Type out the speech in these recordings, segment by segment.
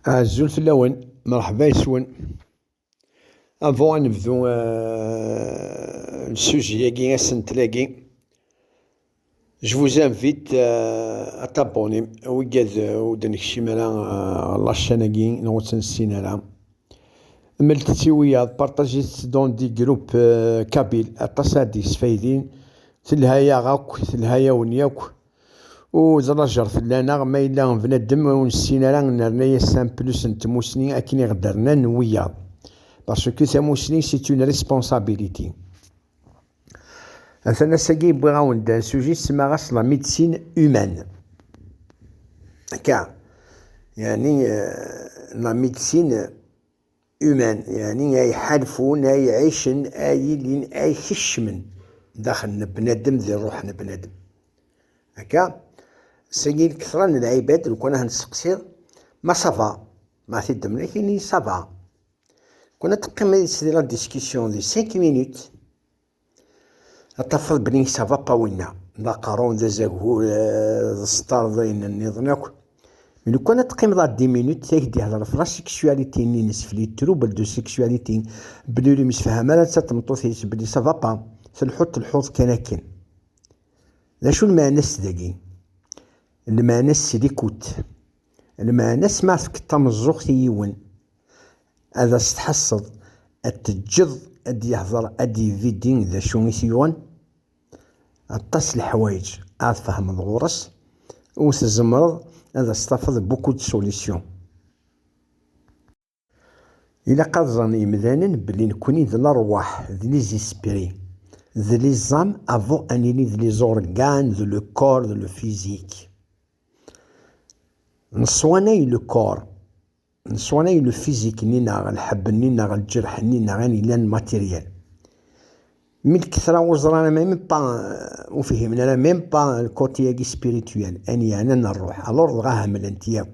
Azul fell-awen, mṛeḥba yes-wen. Avant ad nebdu sujet-agi, asentel-agi, je vous invite à t'abonner wiggad ur d-nekcim ara ɣer la chaîne-agi neɣ ur tt-nessin ara. Mlet-tt i wiyaḍ, partagez-tt dans des groupes kabyles, aṭas ara d-yesfaydin, telha-yaɣ akk, telha-yawen yakk. Uzlajer fell-aneɣ, ma yella bnadem ur nessin ara, nerna-as un plus n tmusni akken i ɣ-d-rnan wiyaḍ. Parce que tamusni c'est une responsabilité. Atan ass-agi wwiɣ-awen-d sujet ssemaɣ-as la médecine humaine. Akka, yani la médecine Humaine, yeɛni ay ḥalfun, ay ɛicen, ay ilin, ay kecmen daxel n bnadem di ṛṛuḥ n bnadem. Akka, sagi lketṛa n lɛibad, lkun ad nesteqsi, ma ça va? Ma ti d-temlek, ini ça va. Lkun ad teqqim di la discussion di cinq minutes, ad tafeḍ belli nesɛa aqawul-nneɣ d aqerru, d azagur, eh, d sṭar, d ayen nniḍen akk. Mi lukan ad teqqimeḍ ar 10 minutes, ad k-d-ihder ɣef la sexualité-nni-ines, fli trouble de sexualité, belli ur yemsefham ara netta d tmeṭṭut-is, belli ça va pas, telḥuḍ telḥuḍ kan akken. D acu lmeɛna-s dagi? Lmeɛna-s c'est l'écoute. Lmeɛna-s ma tefkeḍ tameẓẓuɣt i yiwen ad as-tḥasseḍ, ad t-teǧǧeḍ ad d-yehder, ad d-yevidi d acu i t-yuɣen, aṭas leḥwayeǧ ara tfehmeḍ ɣur-s, u tzemreḍ ad as-tafeḍ beaucoup de solutions. Ilaq ad ẓren yemdanen belli nekkni d lerwaḥ, d les esprits, d les âmes avant ad nili d les organes, d le corps, d le physique. Neswanay le corps, neswanay le physique-nni neɣ lḥebb-nni neɣ lǧerḥ-nni neɣ ayen yellan matériel. Mi lkettra ur ẓran ama même pas ur fhimen ara même pas le côté-agi spirituel, ayen yeɛnan rruḥ, alors dɣa hemmlen-t yakk.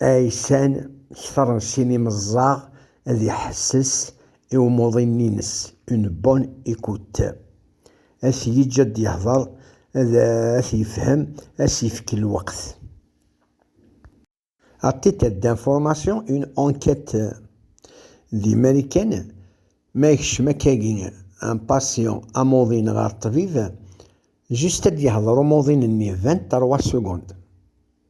Aysan ketren sin imeẓẓaɣ ad iḥesses i umuḍin-nnes, une bonne écoute. A t-yeǧǧ ad d-yehder, ad t-yefhem, ad as-yefk lweqt. À titre d'information, une enquête d Imarikan, ma yekcem akkagi un patient, amuḍin, ɣer ṭṭbib, juste ad d-yehder umuḍin-nni 23 secondes.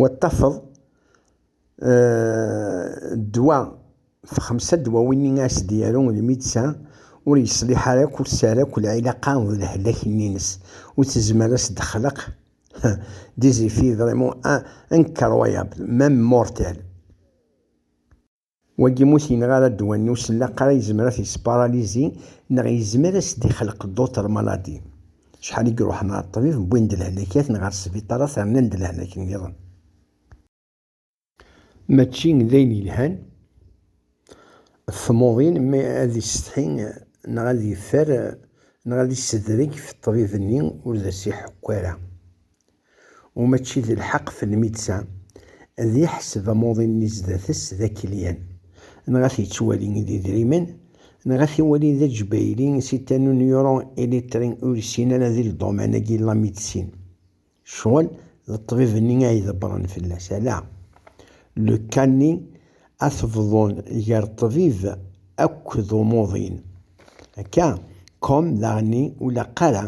Wa tafeḍ ddwa fxemsa ddwawin i as-d-yaru lmidsa ur yeṣliḥ ara akk, ur tesɛi akk lɛilaqa d lehlak-nni-ines, ur tezmer ad s-d-texleq des effets vraiment incroyables, même mortels. Wagi mut yenɣ ara ddwa-nni usenlaqar a yezmer a t-yesparalizi neɣ yezmer a s-d-ixleq d'autres maladies. Acḥal i iruḥen ɣer ṭṭbib wwin-d lehlakat neɣ ɣer sbiṭarat rnan-d lehlak nniḍen. Mačči d ayen yelhan ɣef tmuḍin mi ad yessetḥi neɣ ad yeffer neɣ ad yessedreg ɣef ṭṭbib-nni ur d as-iḥekku ara. u mačči d lḥeq f lmidsa ad yeḥseb amuḍin-nni zdat-s d akelyan, neɣ ad t-yettwali d idrimen, neɣ ad t-iwali d aǧbayli si ta n unyuru ilitri ur yessin ara di lduman-agi n lamidsin, ccɣel d ṭṭbib-nni a idebbren fell-as, ala le cas-nni ad t-bḍun gar ṭṭbib akk d umuḍin, akka comme daɣenni ur laq ara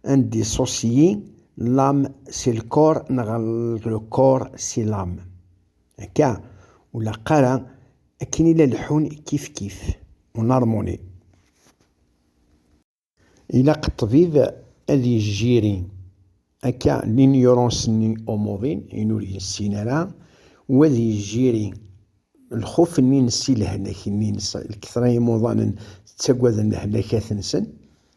Un dissocié, l'âme si le corps neɣ le corps si l'âme. Akka, ur laq ara akken i la leḥḥun kifkif, en harmonie. Ilaq ṭṭbib ad yejjiri akka l'ignorance-nni umuḍin, ayen ur yessin ara, u ad yejjiri lxuf-nni-nnes i lehlak-nni-nnes, lketṛa n yimuḍanen ttaggaden lehlakat-nsen,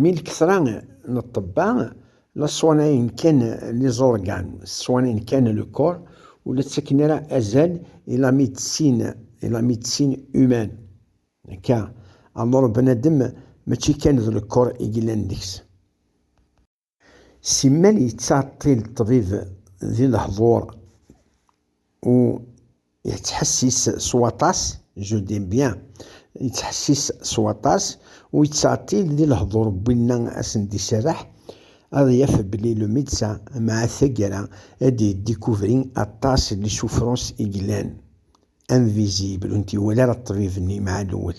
Mi lkesra n ṭṭebba la sswanayen kan liẓurgan, sswanayen kan le corps, ur la ttaken ara azal i la médecine, i la médecine humaine. Akka, alors bnadem mačči kan d le corps i yellan deg-s. Simmal yettɛeṭṭil ṭṭbib di lehḍur u yettḥessis s waṭas, je dis bien, yettḥessis s waṭas u yettɛeṭṭil di lehḍur n winna a sen-d-iserreḥ ad yaf belli le médecin m'a taggara ad d-yedécouvri aṭas n les souffrances i yellan invisibles ur ntiwala ara ṭṭbib-nni m'a lewwel.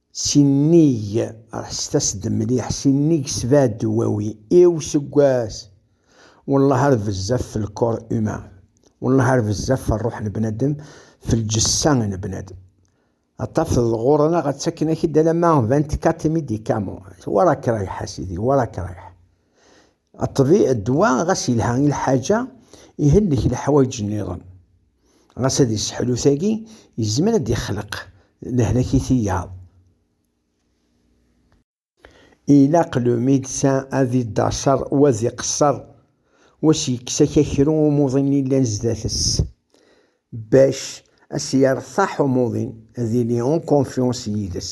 Sinnig, ḥesset-as-d mliḥ, sinnig sebɛa dwawi i useggas, wellah ar bezzaf f lkor humain, wellah ar bezzaf f rruḥ n bnadem, f lǧessa n bnadem. Ad tafeḍ ɣur-neɣ ttaken-ak-d alamma vingt-quatre médicaments, war akrayḥ a sidi, war akrayḥ. Ṭṭbiɛ ddwa ɣas yelha i lḥaǧa, ihellek leḥwayeǧ nniḍen. Ɣas ad yesseḥlu tagi, yezmer ad d-ixleq lehlak i tiyaḍ. Ilaq le médecin ad iddaṣer u ad iqesser u ad s-yekkes akakru i umuḍin yellan zdat-s, bac a s-yertaḥ umuḍin, ad yili en confiance yid-s.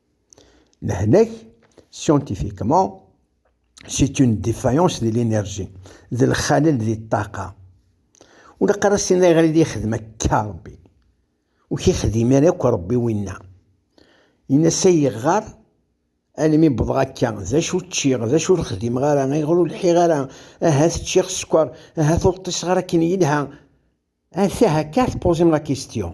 Lehlak, scientifiquement, c'est une défaillance de l'énergie, d lxalel di ṭṭaqa. Ur la qqar asin ayɣer i d-yexdem akka Rebbi. Ur k-yexdim ara akk Rebbi winna. Yenna-s ay yeɣɣar, almi wwḍeɣ akka, d acu ččiɣ, d acu ur xdimeɣ ara, ayɣer ur lḥiɣ ara, ahat ččiɣ sskeṛ, ahat ur ṭṭiseɣ ara akken yelha. Ata akka tpoziḍ la question.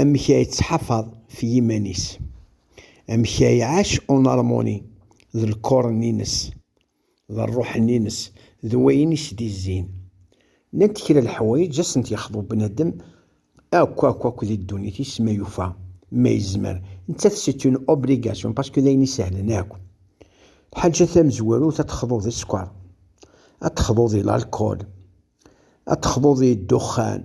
amek ay ttḥafad f yiman-is, amek ay iɛac en armoni d lkuren-nnes, d rruḥ-nnes, d wayen i s-d-izzin. Llant kra n leḥwayeǧ i asent-yexḍeb bnadem akk akk akk di ddunit-is ma yufa, ma yezmer. Nettat c'est une obligation parce que d ayen isehlen akk. Lḥaǧa tamezwarut ad texḍuḍ i sskeṛ, ad texḍuḍ i lalkul, ad texḍuḍ i ddexxan,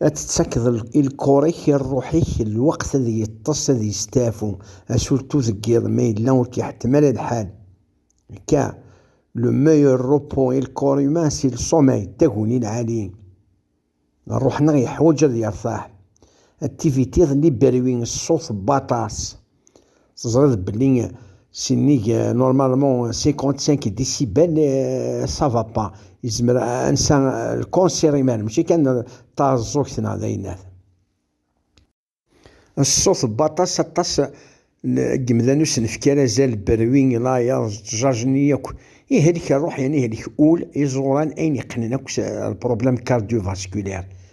Ad tettakeḍ i lkor-ik, i rruḥ-ik, lweqt ad yeṭṭes, ad yesteɛfu, asurtu deg yiḍ ma yella ur k-iḥettem ara lḥal. K, Le meilleur repos est le corps humain, c'est le sommeil, d taguni lɛali. Rruḥ-nneɣ yeḥwaǧ ad yertaḥ. Activité d liberwi, ṣṣut, baṭas. Teẓriḍ belli sinnig normalement 55 décibels ça va pas yezmer ad nsa lkonsir iman mačči kan taɛeẓẓugt neɣ d ayennat. Ṣṣut n waṭas aṭas n yimdanen ur sen-nefki ara azal, berwi, layeḍ, ttjajen-iyi akk. Ihlek rruḥ yerna ihlek ul, iẓuran, ayen yeqqnen akk s lproblème cardiovasculaire.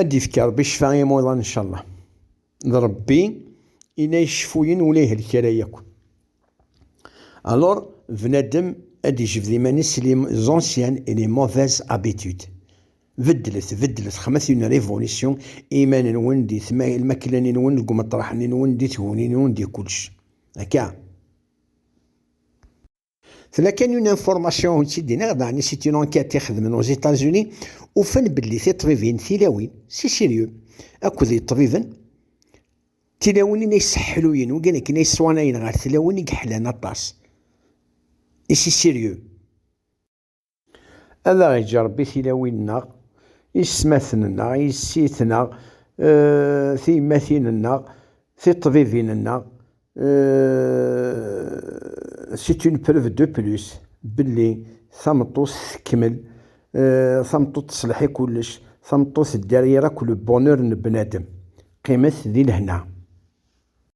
Ad ifk Ṛebbi ccfa i yimuḍan ncallah. D Ṛebbi i la iceffuyen ula ihelk ara yakk. Alors bnadem ad ijbed iman-is s les anciennes et les mauvaises habitudes. Beddlet, beddlet, xmet une révolution i iman-nwen di lmakla-nwen, deg umeṭreḥ-nwen, di tguni-nwen, di kullec. Akka! Tella kan une information ur tt-id-iniɣ, daɣen c'est une enquête i xedmen aux États-Unis, ufan belli tiṭbibin tilawin, si sérieux, akked iṭbiben, tilawin ay sseḥluyen, wigin akken ay sswanayen ɣer tlawin i yeḥlan aṭas, i si sérieux. Ad aɣ-iǧǧ Ṛebbi tilawin-nneɣ, isetmaten-nneɣ, yessi-tneɣ, tiyemmatin-nneɣ, tiṭṭbibin-nneɣ, c'est une preuve de plus belli tameṭṭut tekmel, tameṭṭut teṣleḥ i kullec, tameṭṭut derrière akk le bonheur n bnadem qqimet di lehna.